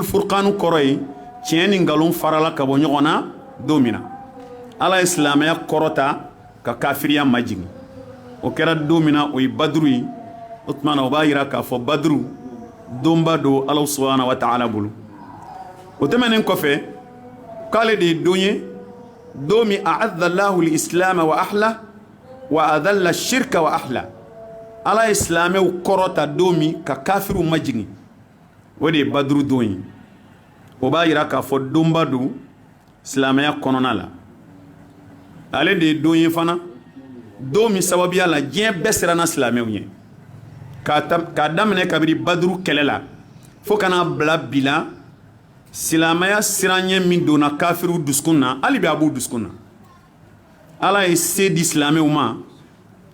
furkan kɔrɔ ye tiɲɛ ni nkalon farala ka bɔ ɲɔgɔn na don min na ala ye silamɛya kɔrɔta ka kafiriya majigin o kɛra don min na o ye baduru ye o tuma na o b'a jira k'a fɔ baduru donba don ala subahana wa taala bolo o tɛmɛnen kɔfɛ k'ale de ye don ye don min aazallahu lisilama wa ahla wa azalla shirka wa ahla ala ye silamɛw kɔrɔta don min ka kafiriw majigin o de ye baduru don ye o b'a jira k'a fɔ donba don silamɛya kɔnɔna la ale de ye don ye fana don min sababuya la diɲɛ bɛɛ siranna silamɛw ɲɛ k'a daminɛ kabiri baduru kɛlɛ la fo ka n'a bila bi la silamɛya siranɲɛ min donna kafiriw dusukun na hali bi a b'u dusukun na ala ye se di silamɛw ma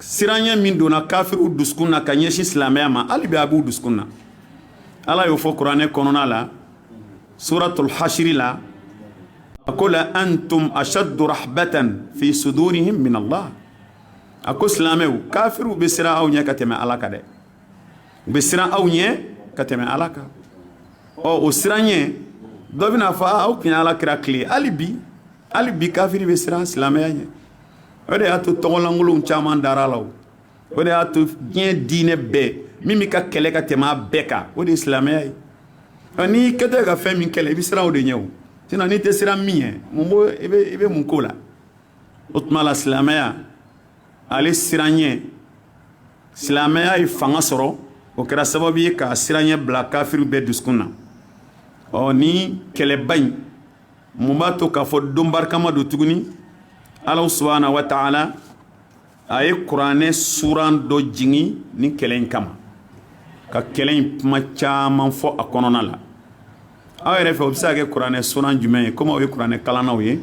siranɲɛ min donna kafiriw dusukun na ka ɲɛsin silamɛya ma hali bi a b'u dusukun na ala y'o fɔ kuranɛ kɔnɔna la suratul hashiri la a ko la antum ashaddu rahbatan fi sudurihim min allah a ko silamɛw kafiriw bɛ siran aw ɲɛ ka tɛmɛ ala kan dɛ u bɛ siran aw ɲɛ ka tɛmɛ ala kan ɔ o siranɲɛ dɔ bɛn'a fɔ o tun ye ala kira tile hali bi hali bi kafiri bɛ siran silamɛya ɲɛ o de y'a to tɔgɔlankolon caman dara a la o de y'a to diɲɛ diinɛ bɛɛ min bɛ ka kɛlɛ ka tɛmɛ bɛɛ kan o de ye silamɛya ye ɔ n'i kɛtɔ ye ka fɛn min kɛlɛ i bɛ siran o de ɲɛ o sinon n'i tɛ siran min ɲɛ mun b'o i bɛ i bɛ mun k'o la o tuma la silamɛya ale siranɲɛ silamɛya ye fanga sɔrɔ o kɛra sababu ye k'a siranɲɛ bila kafiriw bɛɛ dusukun na ɔ ni kɛlɛba in mun b'a to k'a fɔ don barikama don tuguni ala subahana wa taala a ye kuranɛ suran dɔ jigin ni kɛlɛ in kama ka kɛlɛ in kuma caman fɔ a kɔnɔna la aw yɛrɛ fɛ o bɛ se ka kɛ kuranɛ suran jumɛn ye kɔmi aw ye kuranɛ kalannaw ye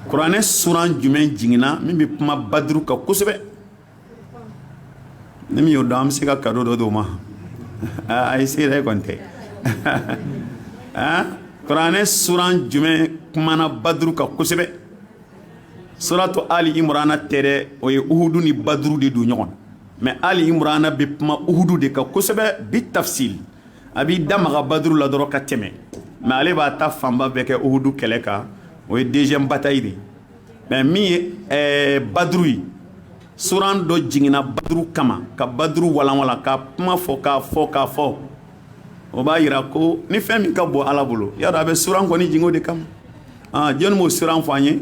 kuranɛ suran jumɛn jiginna min bɛ kuma baduru kan kosɛbɛ ni min y'o dɔn an bɛ se ka kado dɔ di o ma ayi se yɛrɛ kɔni tɛ aa kuranɛ suran jumɛn kumana baduru kan kosɛbɛ suratu ali imrana tɛ dɛ o ye uhud ni baduru de don ɲɔgɔn mɛ ali imrana bɛ kuma uhud de kan kosɛbɛ bi tafsil a b'i da maga baduru la dɔrɔn ka tɛmɛ mɛ ale b'a ta fanba bɛɛ kɛ uhudu kɛlɛ kan o ye deuxième bataille de mɛ min ye eh, baduru ye suran dɔ jiginna baduru kama ka baduru walanwala k'a kuma fɔ k'a fɔ k'a fɔ o b'a yira ko ni fɛn min ka bon ala bolo y'a dɔn a bɛ suran kɔni jigin o de kama ah, jɔni b'o suran fɔ an ye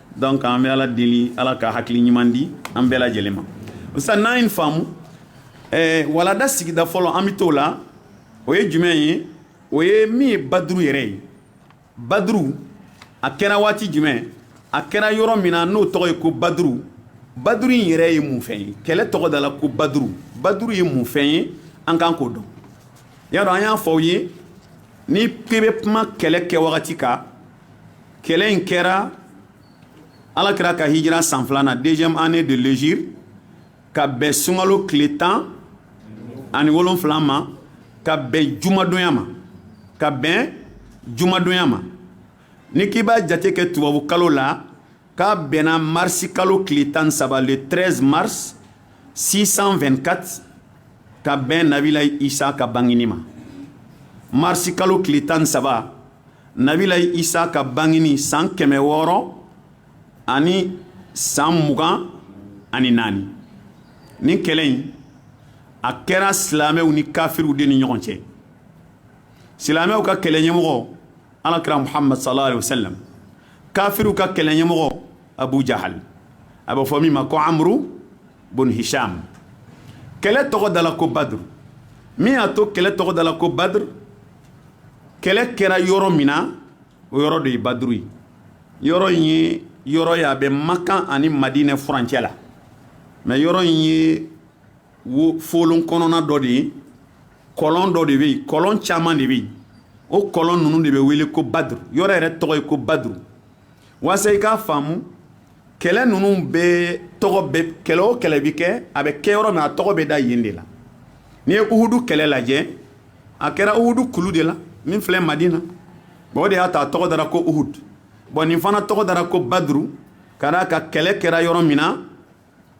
donc an bɛ ala deli ala ka hakili ɲuman di an bɛɛ lajɛlen ma sisan n'an ye nin faamu eh, walada sigida fɔlɔ an bɛ t'o la o ye jumɛn ye o ye min ye baduru yɛrɛ ye baduru a kɛra waati jumɛn a kɛra yɔrɔ min na n'o tɔgɔ ye ko baduru baduru in yɛrɛ ye mun fɛn ye kɛlɛ tɔgɔ dala ko baduru baduru ye mun fɛn ye an kan k'o dɔn y'a dɔn an y'a fɔ aw ye ni k'i bɛ kuma kɛlɛ kɛ wagati kan kɛlɛ in kɛra ala kira ka hijira san filanan deuxième année de l'hégire ka bɛn sunkalo tile tan ani wolonfila ma ka bɛn jumadonya ma ka bɛn jumadonya ma ni k'i b'a jate kɛ tubabu kalo la k'a bɛnna marisi kalo tile tan ni saba le 13 mars 624 ka bɛn nabila isa ka bangini ma marisi kalo tile tan ni saba nabila isa ka bangini san kɛmɛ wɔɔrɔ ani san mugan ani naani nin kɛlɛ in a kɛra silamɛw ni kafiriw de ni ɲɔgɔn cɛ silamɛw ka kɛlɛ ɲɛmɔgɔ alakira muhammad sallallahu alaihi wasallam kafiriw ka kɛlɛ ɲɛmɔgɔ abu jahal a bɛ fɔ min ma ko amru bun hisham kɛlɛ tɔgɔ dala ko badr min y'a to kɛlɛ tɔgɔ dala ko badr kɛlɛ kɛra yɔrɔ min na o yɔrɔ de ye baduru ye yɔrɔ in ye yɔrɔ ye a bɛ makan ani madinɛ furancɛ la mais yɔrɔ in ye wo folon kɔnɔna dɔ de ye kɔlɔn dɔ de bɛ yen kɔlɔn caman de bɛ yen o kɔlɔn ninnu de bɛ wele ko baduru yɔrɔ yɛrɛ tɔgɔ ye ko baduru walasa i k'a faamu kɛlɛ ninnu bɛɛ tɔgɔ bɛ kɛlɛ o kɛlɛ bɛ kɛ a bɛ kɛ yɔrɔ min a tɔgɔ bɛ da yen de la n'i ye uhudu kɛlɛ lajɛ a kɛra uhudu kulu de la min filɛ madina bon o de y'a to a tɔgɔ dara ko uhud bon nin fana tɔgɔ dara ko baduru ka d'a kan kɛlɛ kɛra yɔrɔ min na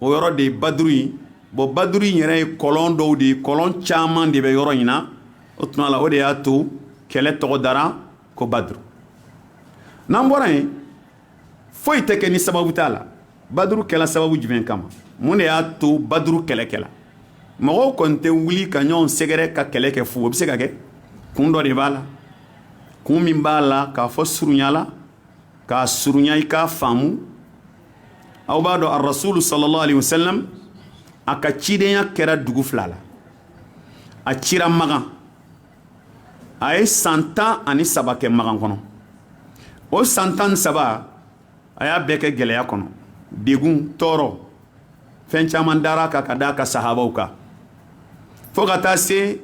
o yɔrɔ de ye baduru ye bon baduru in yɛrɛ ye kɔlɔn dɔw de ye kɔlɔn caman de bɛ yɔrɔ in na o tuma la o de y'a to kɛlɛ tɔgɔ dara ko baduru n'an bɔra yen foyi tɛ kɛ ni sababu t'a la baduru kɛla sababu jumɛn kama mun de y'a to baduru kɛlɛ kɛla mɔgɔw kɔni tɛ wuli ka ɲɔgɔn sɛgɛrɛ ka kɛlɛ kɛ fo o bɛ se ka kɛ kun dɔ de b'a la kun min b'a la k'a fɔ surunya la k'a surunya i k'a faamu aw b'a dɔn arasulu sallallahu alaihi wasallam a ka cidenya kɛra dugu fila la a cira makan a ye san tan ani saba kɛ magan kɔnɔ o san tan ni saba a y'a bɛɛ kɛ gɛlɛya kɔnɔ degun tɔɔrɔ fɛn caman dara a kan ka da a ka sahabaw kan fo ka taa se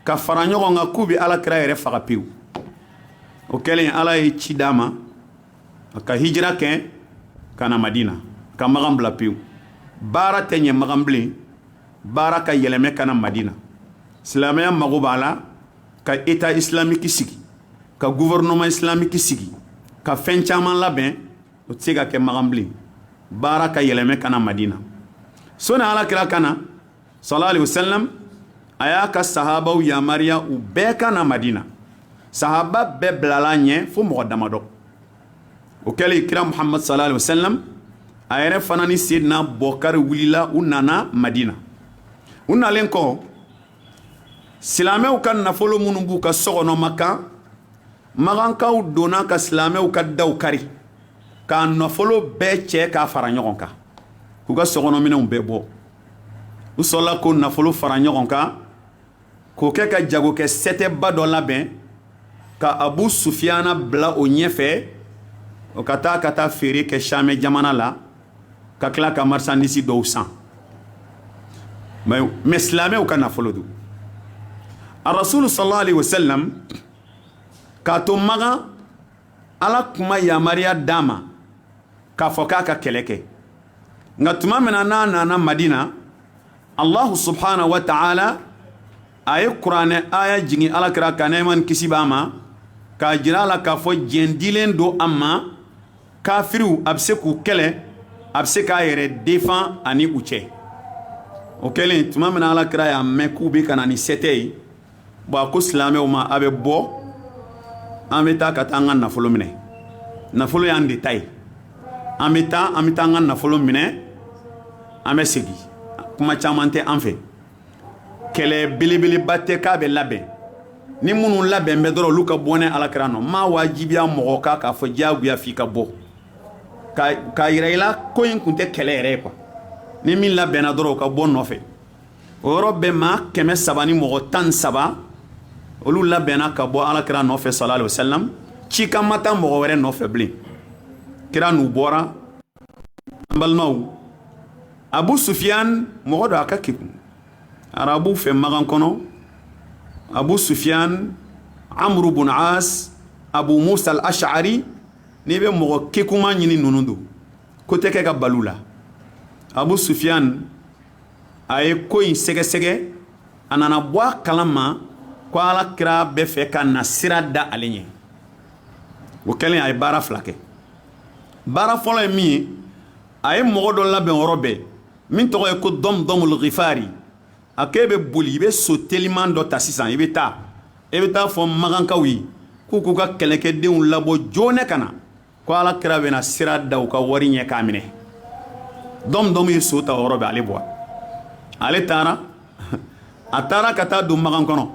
ka fara ɲɔgɔn kan k'u bɛ ala kira yɛrɛ faga pewu o kɛlen ala ye ci d'a ma a ka hijira kɛ ka na madina a ka magan bila pewu baara tɛ ɲɛ magan bilen baara ka yɛlɛmɛ ka na madina silamɛya mago b'a la ka eta isilamiki sigi ka guvɛrɛnɛman isilamiki sigi ka fɛn caman labɛn o tɛ se ka kɛ makan bilen baara ka yɛlɛmɛ ka na madina sani ala kira ka na sala alayihi wa salamu a y'a ka sahabaw yamaruya u bɛɛ ka na madina sahaba bɛɛ bilala ɲɛ fo mɔgɔ damadɔ o kɛlen kira muhamadu sala alayihi wa salam a yɛrɛ fana ni seyidina bɔkari wulila u nana madina u nalen kɔ silamɛw ka nafolo minnu b'u ka so kɔnɔ makan makankaw donna ka silamɛw ka daw kari k'a nafolo bɛɛ cɛ k'a fara ɲɔgɔn kan k'u ka sokɔnɔminɛnw bɛɛ bɔ u sɔrɔla k'o nafolo fara ɲɔgɔn kan k'o kɛ ka jagokɛ sɛtɛba dɔ labɛn ka abu sufiyana bila o ɲɛfɛ o ka taa ka taa feere kɛ shami jamana la ka tila ka marisandisi dɔw san yen silamɛw ka nafolo don arasulu salalahu alayihi wa salamu k'a to makan ala tun ma yamaruya d'a ma k'a fɔ k'a ka kɛlɛ kɛ nka tuma min na n'a nana madina Allahu subahana wa ta'ala a ye kuranɛ aya jigin ala kira kan nɛɛma ni kisi b'a ma k'a jira a la k'a fɔ diɲɛ dilen don a ma kafiriw a bɛ se k'u kɛlɛ a bɛ se k'a yɛrɛ defan ani u cɛ o kɛlen tuma min ala kira y'a mɛn k'u bɛ ka na ni sɛtɛ ye Bon a ko silamɛw ma a bɛ bɔ an bɛ taa ka taa an ka nafolo minɛ nafolo y'an de ta ye an bɛ taa an bɛ taa an ka nafolo minɛ an bɛ segin kuma caman tɛ an fɛ kɛlɛ belebeleba tɛ k'a bɛɛ labɛn ni minnu labɛnnen bɛ dɔrɔn olu ka bɔ ne alakira nɔ n m'a wajibiya mɔgɔ kan k'a fɔ diyagoya f'i ka bɔ k'a jira i la ko nin tun tɛ kɛlɛ yɛrɛ ye kuwa ni min labɛnna dɔrɔn o ka bɔ n nɔfɛ o yɔrɔ bɛɛ maa kɛmɛ saba ni mɔgɔ tan saba olu labɛnna ka bɔ ala kira nɔfɛ sala alayihi wa salam cikan ma taa mɔgɔ wɛrɛ nɔfɛ bilen kira n'u bɔra an balimaw abu sufiyan mɔgɔ don a ka kekun arabu fɛ makan kɔnɔ abu sufiyan amuru bun as abu musa alasari n'i bɛ mɔgɔ kekunma ɲini ninnu don ko tɛ kɛ ka bal'u la abu sufiyan a ye ko in sɛgɛsɛgɛ a nana bɔ a kala ma ko ala kira bɛ fɛ ka na sira da ale ɲɛ o kɛlen a ye baara fila kɛ baara fɔlɔ ye min ye a ye mɔgɔ dɔ labɛn o yɔrɔ bɛɛ min tɔgɔ ye ko dɔmudɔmul gifari a ko e bɛ boli i bɛ so teliman dɔ ta sisan i bɛ taa e bɛ t'a fɔ makankaw ye k'u k'u ka kɛlɛkɛdenw labɔ joona ka na ko ala kira bɛna sira da u ka wari ɲɛ k'a minɛ dɔmudɔmu ye so ta o yɔrɔ bɛɛ ale bɔra ale taara a taara ka taa don makan kɔnɔ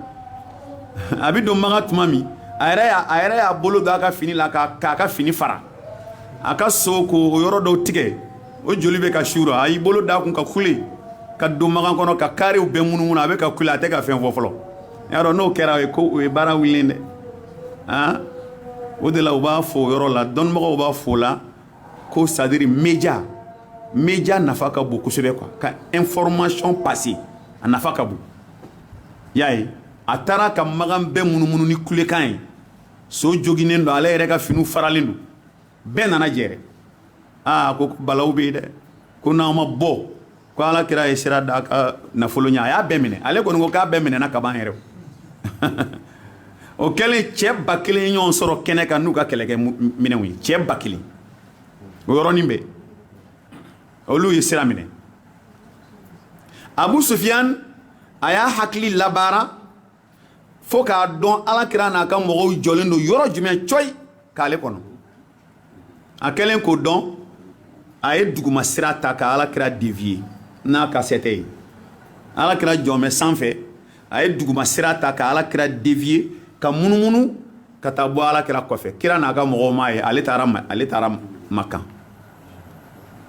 a bɛ don makan tuma min a yɛrɛ y'a a yɛrɛ y'a bolo don a ka fini la k'a k'a ka fini fara a ka so k'o yɔrɔ dɔw tigɛ o joli bɛ ka suuru a y'i bolo d'a kun ka kule ka don makan kɔnɔ ka karew bɛɛ munumunu a bɛ ka kule a tɛ ka fɛn fɔ fɔlɔ y'a dɔn n'o kɛra o ye ko o ye baara wulilen dɛ aa o de la u b'a fɔ o yɔrɔ la dɔnnibagaw b'a fɔ o la ko c'est-à-dire média média nafa ka bon kosɛbɛ quoi ka information pase a nafa ka bon y'a ye a taara ka makan bɛɛ munumunu ni kulekan ye so joginnen don ale yɛrɛ ka finiw faralen don bɛɛ nana jɛrɛ aa ko balaw bɛ yen dɛ ko n'aw ma bɔ ko ala kira ye sira d'a ka nafolo ɲɛ a y'a bɛɛ minɛ ale kɔni ko k'a bɛɛ minɛna ka ban yɛrɛ o kɛlen cɛ ba kelen ye ɲɔgɔn sɔrɔ kɛnɛ kan n'u ka kɛlɛkɛminɛnw ye cɛ ba kelen o yɔrɔnin bɛɛ olu ye sira minɛ abu sufiyan a y'a hakili labaara fo k'a dɔn ala kira n'a ka mɔgɔw jɔlen don yɔrɔ jumɛn cɔyi k'ale kɔnɔ a kɛlen k'o dɔn a ye duguma sira ta ka ala kira deviye n'a ka sɛtɛ ye ala kira jɔlen bɛ sanfɛ a ye duguma sira ta ka ala kira deviye ka munumunu ka taa bɔ ala kira kɔfɛ kira n'a ka mɔgɔw m'a ye ale taara ale taara makan